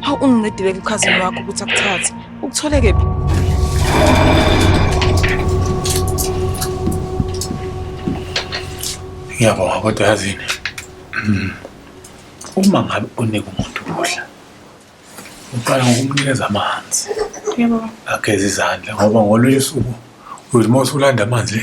Hawu ungincedile kukhazini wakho ukuthi akuthathe. Ukuthole kephi? Ngiyabonga kodwa yazini. Mm. Uma ngabe unika umuntu ukudla uqala ngokumnikeza amanzi. Yebo. Ageze izandla ngoba ngolunye usuku uyothi uma usulanda amanzi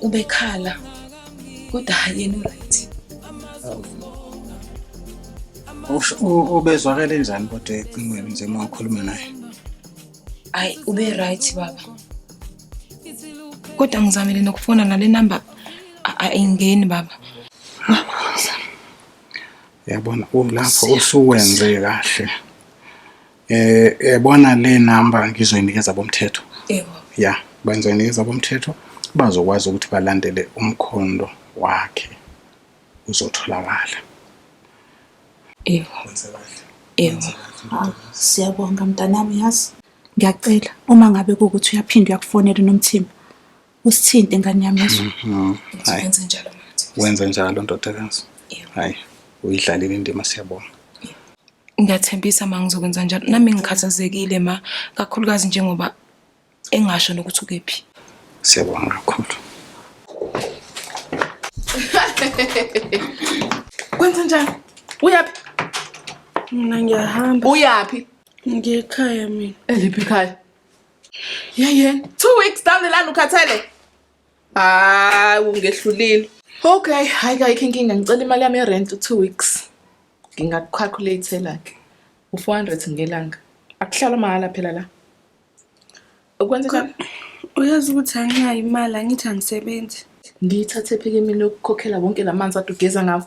ubekhala kodwa hayi yena uright ubezwakele njani kodwa ecingweni nje uma ukhuluma naye ayi ube right baba kodwa ngizamele nokufona nale number ayingeni baba yabona ulapho usuwenze kahle eh yabona le number ngizoyinikeza bomthetho yebo ya benzoyinikeza bomthetho bazokwazi ukuthi balandele umkhondo wakhe uzotholakala yebo yebo ah, siyabonga mntanami yazi ngiyacela uma ngabe kukuthi uyaphinde uyakufonela unomthimba usithinte ngane yami yezwa Mhm. Hayi, wenze njalo manje wenze njalo ndodakazi. Yebo. Hayi, uyidlalile indima siyabonga. ngiyathembisa ma ngizokwenza njalo nami ngikhathazekile ma kakhulukazi njengoba engasho nokuthi ukephi Siyabonga kakhulu. kwenze njani uyaphi mina ngiyahamba uyaphi ngiye ekhaya mina eliphi ikhaya Yeah, yeah. Two weeks down the line ukhathele. Hayi ungehlulile. Okay, hayi kayikho inkinga ngicela imali yami yerent two weeks. Ngingakucalculate like u400 ngelanga. Akuhlala mahala phela la. Ukwenzeka uyazi ukuthi anginayo imali angithi angisebenzi. Ngiyithathe phike mina ukukhokhela wonke lamanzi adugeza ngawo.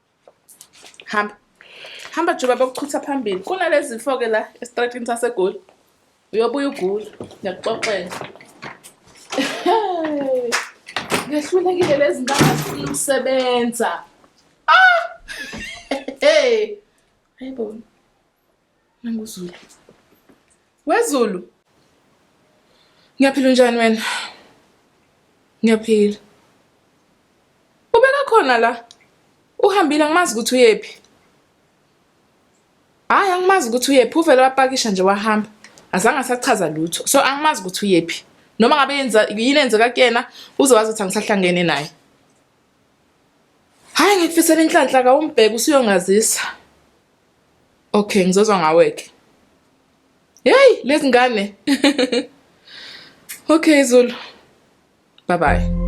hamba hamba juba bokuchutha phambili kunalezi zifo-ke la esitratini sasegoli uyobuya ugula ngiyakuxoxela ngehlulekile lezi ndawo zifuna ukusebenza ah! hey ayibona NanguZulu. WeZulu. Ngiyaphila unjani wena? Ngiyaphila. Ubeka khona la. Uhambile angimazi ukuthi uyephi. Hayi angimazi ukuthi uyephi uvele wapakisha nje wahamba. Azange asachaza lutho. So angimazi ukuthi uyephi. Noma ngabe yenza yini enzeka kuyena uzowazi ukuthi angisahlangene naye. Hayi ngikufisela inhlanhla ka umbheke usuyongazisa. Okay, ngizozwa ngawe-ke. Yeyi, lezi ngane. okay, Zulu. Bye bye.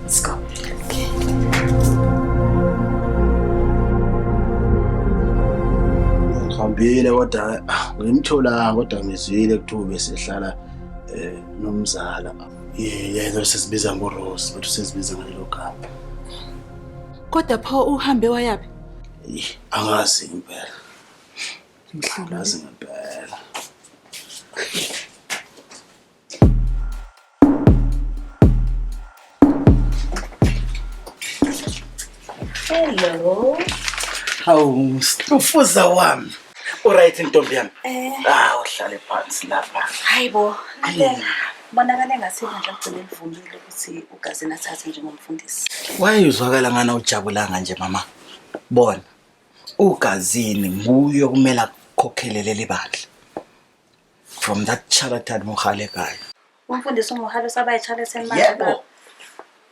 Let's go. ngihambile kodwa ah, ngimtholanga kodwa ngizwile kuthiwa besehlala um nomzala yena sesibiza ngorose but usezibiza ngalelo gama kodwa pho uhambe wayaphi angazi impela angazi ngempela Hello. Hawu, stufuza wami. Uright ntombi yami? Eh. Ah, uhlale phansi lapha. Hayibo. Bonakala engathi manje agcine evumile ukuthi ugazini athathe njengomfundisi. Wayezwakala ngana ujabulanga nje mama. Bona. Ugazini nguye okumele akukhokhele leli bandla. from that character muhale guy umfundisi umuhalo sabaye chale semanje yebo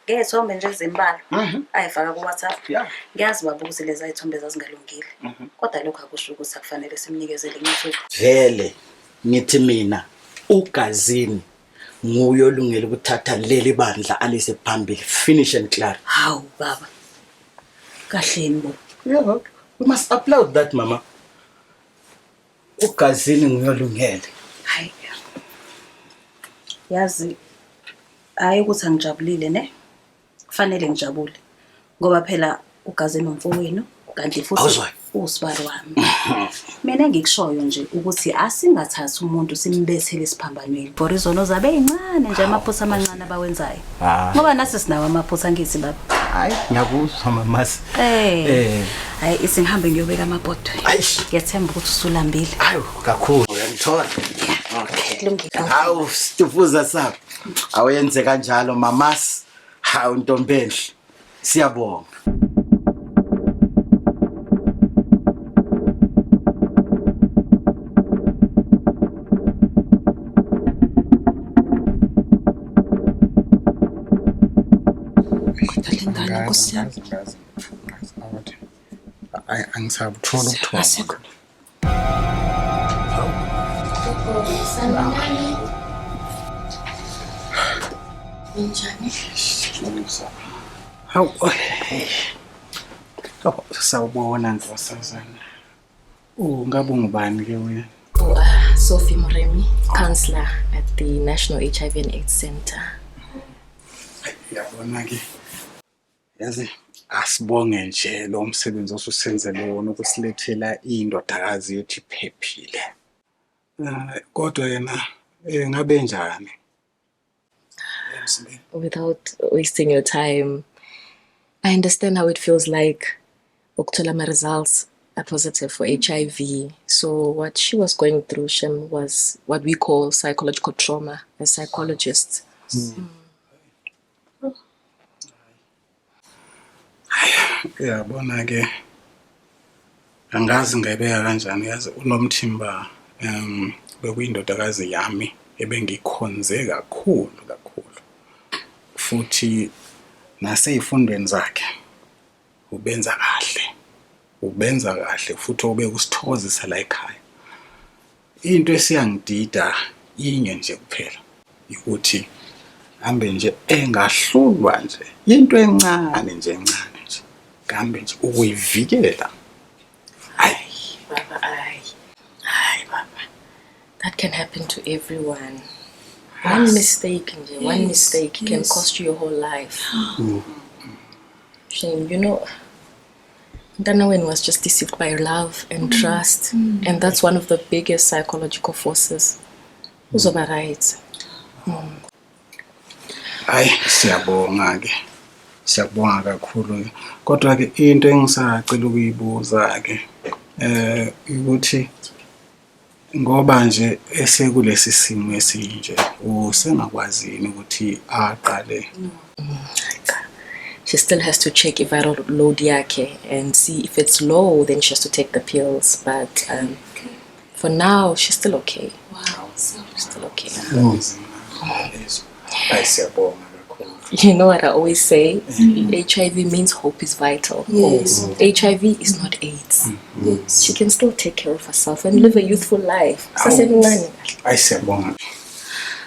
ngezithombe nje ezimbalwa mhm. ayifaka ku-whatsapp ngiyazi baba ukuthi lezi ayithombe zazingalungile mhm. kodwa lokho akusho ukuthi akufanele simnikezele ngithi vele ngithi mina ugazini nguye olungele ukuthatha leli bandla alise phambili finish and clear hawu baba kahleni bo yeah, we must applaud that mama ugazini nguyolungele hayi yazi hayi ukuthi angijabulile ne kufanele ngijabule ngoba phela ugazini umfowenu kanti futhi usibari wami mina engikushoyo nje ukuthi asingathathi umuntu simbethele esiphambanweni for izono zabe yincane nje amaphutha amancane abawenzayo Ah. ngoba nasi sinawo amaphutha angithi baba hayi ngiyakuzwa mamasi Eh. eh hayi isingihambe ngiyobeka amabhodwe Aish. ngiyathemba ukuthi usulambile ayo kakhulu uyangithola okay kulungile hawu stufuza sabo awenze kanjalo mamasi hawu ntombenhle Siyabonga. Nkosi yami. Angisabutholi ubuthongo. Hawu, oh, sawubona nkosazana. Oh, ngabe ungubani ke wena? Oh, uh, Sophie Muremi, counselor at the National HIV and AIDS Center. Yabona ke. yazi asibonge nje lo msebenzi osusenzele wona ukusilethela indodakazi yethu iphephile Eh, kodwa yena eh, ngabe njani emzimbeni without wasting your time i understand how it feels like ukuthola ama-results are positive for hiv so what she was going through shem was what we call psychological trauma as psychologists uyabona ke angazi ngayibeka kanjani yazi unomthimba um bekuyindodakazi yami ebengikhonze kakhulu kakhulu futhi nasey'fundweni zakhe ubenza kahle ubenza kahle futhi obekusithokozisa la ekhaya Into esiyangidida inye nje kuphela ukuthi hambe nje engahlulwa nje into encane nje encane nje kambe nje ukuyivikela hayi baba hayi hayi baba that can happen to everyone one mistake nje yes. one mistake yes. can cost you your whole life mm. shame you know Mntana wenu was just deceived by love and mm. trust mm. and that's one of the biggest psychological forces. Mm. Uzoba right. Mm. Hayi siyabonga ke. Siyabonga kakhulu. Kodwa ke into engisacela ukuyibuza ke eh ukuthi Ngoba nje esekulesi simo esinje usengakwazi yini ukuthi aqale she still has to check i-viral load yakhe and see if it's low then she has to take the pills but um, for now she's still okay wow, so still okay Ay siyabonga kakhulu. You know what I always say? Mm. HIV means hope is vital. Yes. Mm. HIV is not AIDS. Mm. Yes. She can still take care of herself and live a youthful life. Sasemncane. Ay siyabonga.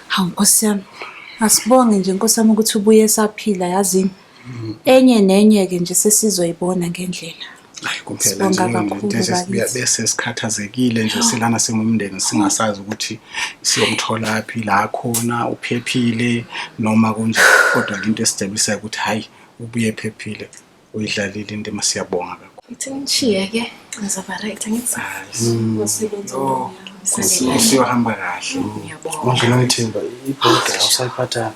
Hawu Nkosi yami. Asibonge nje Nkosi yami ukuthi ubuye saphila yazini. enye nenye ke nje sesizoyibona ngendlela hayi kuphela nje bese sikhathazekile nje silana singumndeni singasazi ukuthi siyomthola phi la khona uphephile noma kunje kodwa into esijabulisayo ukuthi hayi ubuye phephile uyidlalile into masiyabonga kakhulu ithi ngishiye ke ngizaba right ngithi ngosebenza oh, usiyohamba kahle ngiyabonga ngithemba ibhoda awusayiphathanga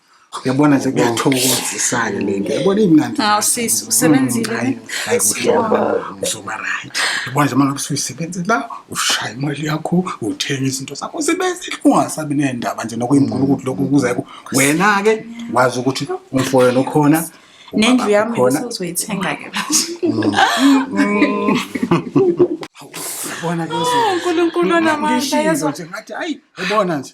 Yabona nje kuyathokozisana le nto. Yabona imnandi. Hawu sisi usebenzile. Mm, hayi uzoba uzoba right. Yabona nje manje usuyisebenzela ushaya imali yakho uthenga izinto zakho usebenze ungasabi nendaba nje nokuyimkhulu ukuthi lokho kuza ku wena ke wazi ukuthi umfoyo nokhona nendlu yami usuzoyithenga ke mm. Yabona ke uzoba. Oh, uNkulunkulu onamandla yezwa. Ngathi ayi yabona nje.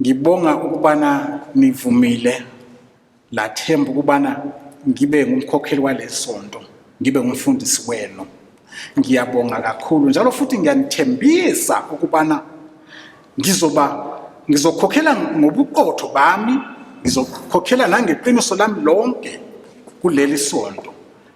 Ngibonga ukubana nivumile lathemba ukubana ngibe ngumkhokheli walesonto, ngibe ngumfundisi wenu. Ngiyabonga kakhulu njalo futhi ngiyanithembisa ukubana ngizoba ngizokhokhela ngobuqotho bami, ngizokhokhela nangeqiniso lami lonke kuleli sonto.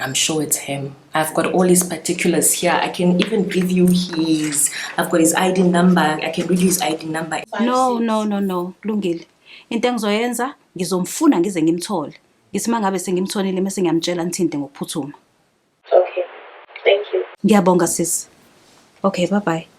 I'm sure it's him. I've got all his particulars here. I can even give you his. I've got his ID number. I can read you his ID number. No, no, no, no. Lungile. Into engizoyenza ngizomfuna ngize ngimthole. Ngithi mangabe sengimtholile mase ngiyamtshela ngithinte ngokuphuthuma. Okay. Thank you. Ngiyabonga sis. Okay, bye bye.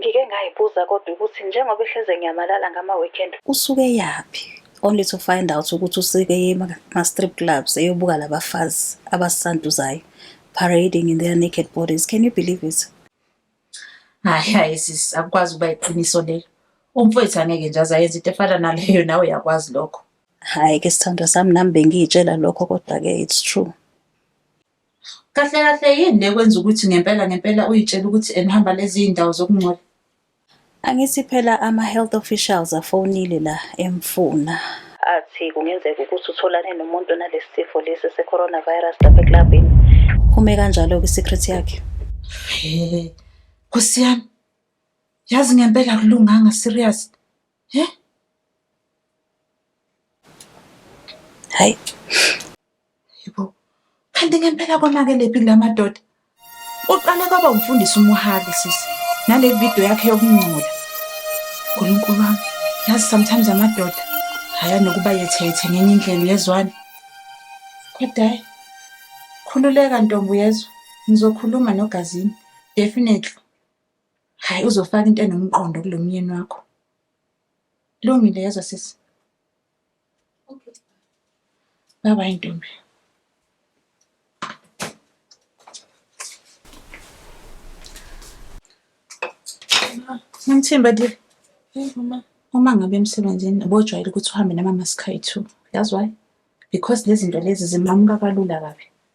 Ngike ngayibuza kodwa ukuthi njengoba ehleze ngiyamalala ngama weekend. Usuke yaphi? Only to find out ukuthi usike ema strip clubs eyobuka labafazi abasanduzayo parading in their naked bodies. Can you believe it? Hayi hayi sis akukwazi ukuba iqiniso lelo. Umfowethu angeke nje azayenza into efana naleyo nawe uyakwazi lokho. Hayi ke sithandwa sami nami bengiyitshela lokho kodwa ke it's true. Kahle kahle yini le kwenza ukuthi ngempela ngempela uyitshela ukuthi enihamba lezi iy'ndawo zokungcola? Angithi phela ama-health officials afonile la emfuna. Athi kungenzeka ukuthi utholane nomuntu onalesi sifo lesi se-coronavirus lapha eklabhini. Phume kanjalo kwi-secret yakhe. He, Nkosi yami. Yazi ngempela akulunganga serious. He? Hayi. Yebo. Kanti ngempela konakelephi kula madoda? Uqale kwaba umfundisi umuhali sisi. Nale video yakhe yokungcola. Nkulunkulu wami. Yazi sometimes amadoda haya nokuba yethethe ngenye indlela uyezwani. Kodwa hayi. Khululeka ntombi uyezwa. Ngizokhuluma nogazini. Definitely. Hayi uzofaka into enomqondo kulo myeni wakho. Lungile yezwa sisi. Okay. Bye bye ntombi. Nomthimba dear. Hey mama. Uma ngabe emsebenzini ubojwayele ukuthi uhambe namama sikhayi two. Yazi why? Because lezi zinto lezi zimamuka kalula kabi.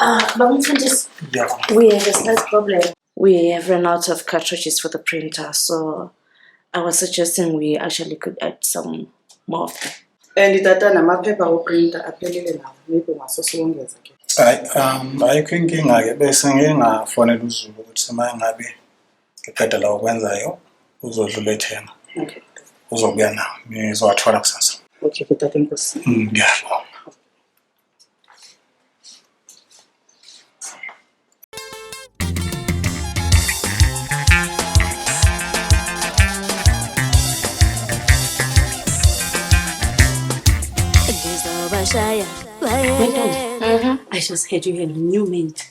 Ah, but we can just. Yeah. We have a slight problem. We have run out of cartridges for the printer, so I was suggesting we actually could add some more of them. And itata namaphepha oprinta aphelele nawo maybe ungasosiwongeza ke hayi um ayikho inkinga-ke bese ngingafonela uzulu ukuthi uma ngabe uqeda la okwenzayo uzodlula ethena okay uzobuya nawo nizowathola kusasa okay kutata inkosi mm, ngiyabonga Shaya. Wait, wait, wait. Uh-huh. I just heard you had a new mate.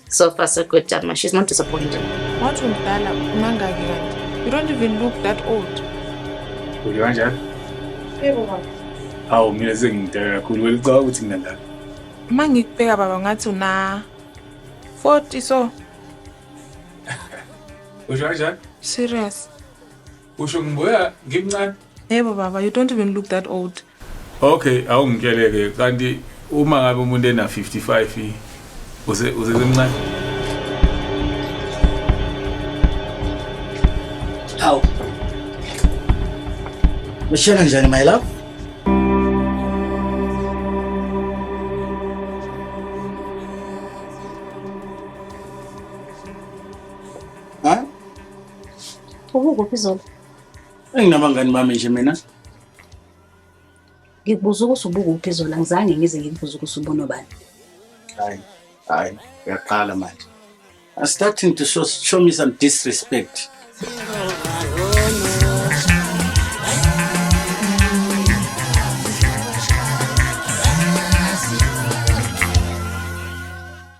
So far so good, Dama. She's not disappointed. What will Dala Mangagi want? You don't even look that old. Will you want that? Hawu mina sengidala kakhulu welicaba ukuthi mina la. Uma ngikubheka baba ngathi una 40 so. Usho kanjani? Serious. Usho ngibuya ngimncane. Yebo baba, you don't even look that old. Okay, awungitshele ke kanti uma ngabe umuntu ena 55 uze uze semncane. Aw. Mshela njani my love? Ha? Ukuphi zona? enginabangani bami nje mina ngikubuza ukuthi ubukuphi zona ngizange ngize ngikubuza ukuthi ubunobani hayi hayi uyaqala manje I'm starting to show, show me some disrespect.